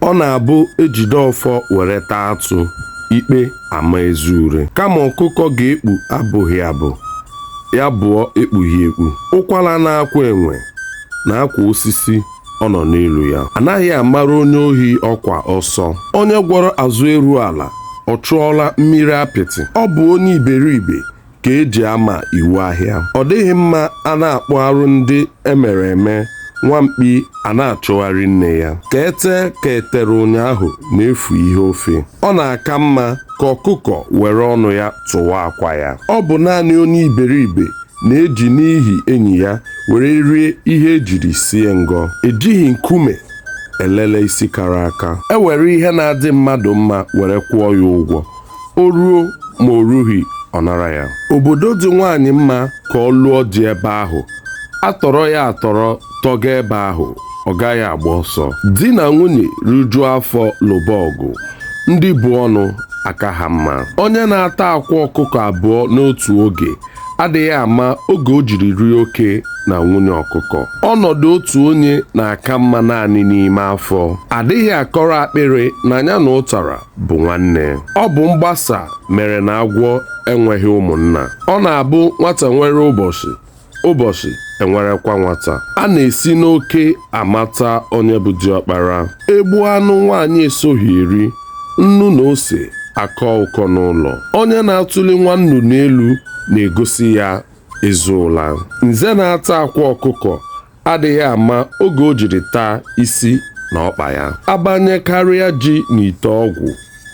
ọ na-abụ ejide ọfọ were taa atụ ikpe ama ezi ure kama ọkụkọ ga-ekpu abụghị abụ ya bụọ ekpughị ekpu ụkwara na-akwa enwe na-akwa osisi ọ nọ n'elu ya anaghị amara onye ohi ọkwa ọsọ onye gwọrọ azụ eru ala ọ chụọla mmiri apịtị ọ bụ onye iberibe ka eji ama iwu ahịa ọ dịghị mma a na-akpụ arụ ndị emere eme nwa mkpi a na-achụgharị nne ya ka ete ka etere ụnyaahụ na-efu ihe ofe ọ na-aka mma ka ọkụkọ were ọnụ ya tụwa akwa ya ọ bụ naanị onye iberibe na-eji n'ihi enyi ya were rie ihe ejiri sie ngọ ejighị nkume elele isi kara aka e were ihe na-adị mmadụ mma were kwụọ ya ụgwọ o ruo ma o rughị ọ nara ya obodo dị nwaanyị mma ka ọ lụọ di ebe ahụ atọrọ ya atọrọ tọga ebe ahụ ọ gaghị agba ọsọ di na nwunye rijuo afọ lụba ọgụ ndị bu ọnụ aka ha mma onye na-ata akwa ọkụkọ abụọ n'otu oge adịghị ama oge o jiri rie oke na nwunye ọkụkọ ọnọdụ otu onye na-aka mma naanị n'ime afọ adịghị akọrọ akpịrị na ya na ụtara bụ nwanne ọ bụ mgbasa mere na agwọ enweghị ụmụnna ọ na-abụ nwata nwere ụbọchị ụbọchị enwerekwa nwata a na-esi n'oke amata onye bụ diọkpara egbu anụ nwaanyị esoghị eri nnu na ose akọ ụkọ n'ụlọ onye na-atụli nwa nnụnụ n'elu na-egosi ya ezi ụla nze na-ata akwa ọkụkọ adịghị ama oge o jiri taa isi na ọkpa ya abanyekarịa ji n'ite ọgwụ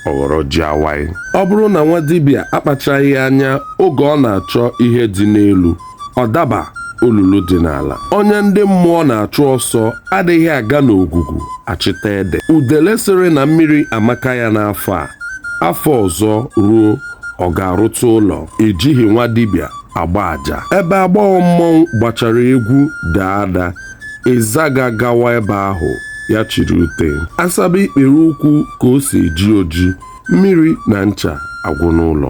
ọ ghọrọ ji awaị ọ bụrụ na nwa dibịa akpachaghị anya oge ọ na-achọ ihe dị n'elu ọ daba olulu dị n'ala onye ndị mmụọ na-achụ ọsọ adịghị aga n'ogwugwu achịta ede udele sịrị na mmiri amaka ya n'afọ a afọ ọzọ ruo ọ ga-arụta ụlọ ejighị nwa dibịa agba aja ebe agbọghọ mmọnwụ gbachara egwu daa ada ịzaga gawa ebe ahụ ya chịrị ute asaba ikpere ụkwụ ka o si eji oji mmiri na ncha agwụ n'ụlọ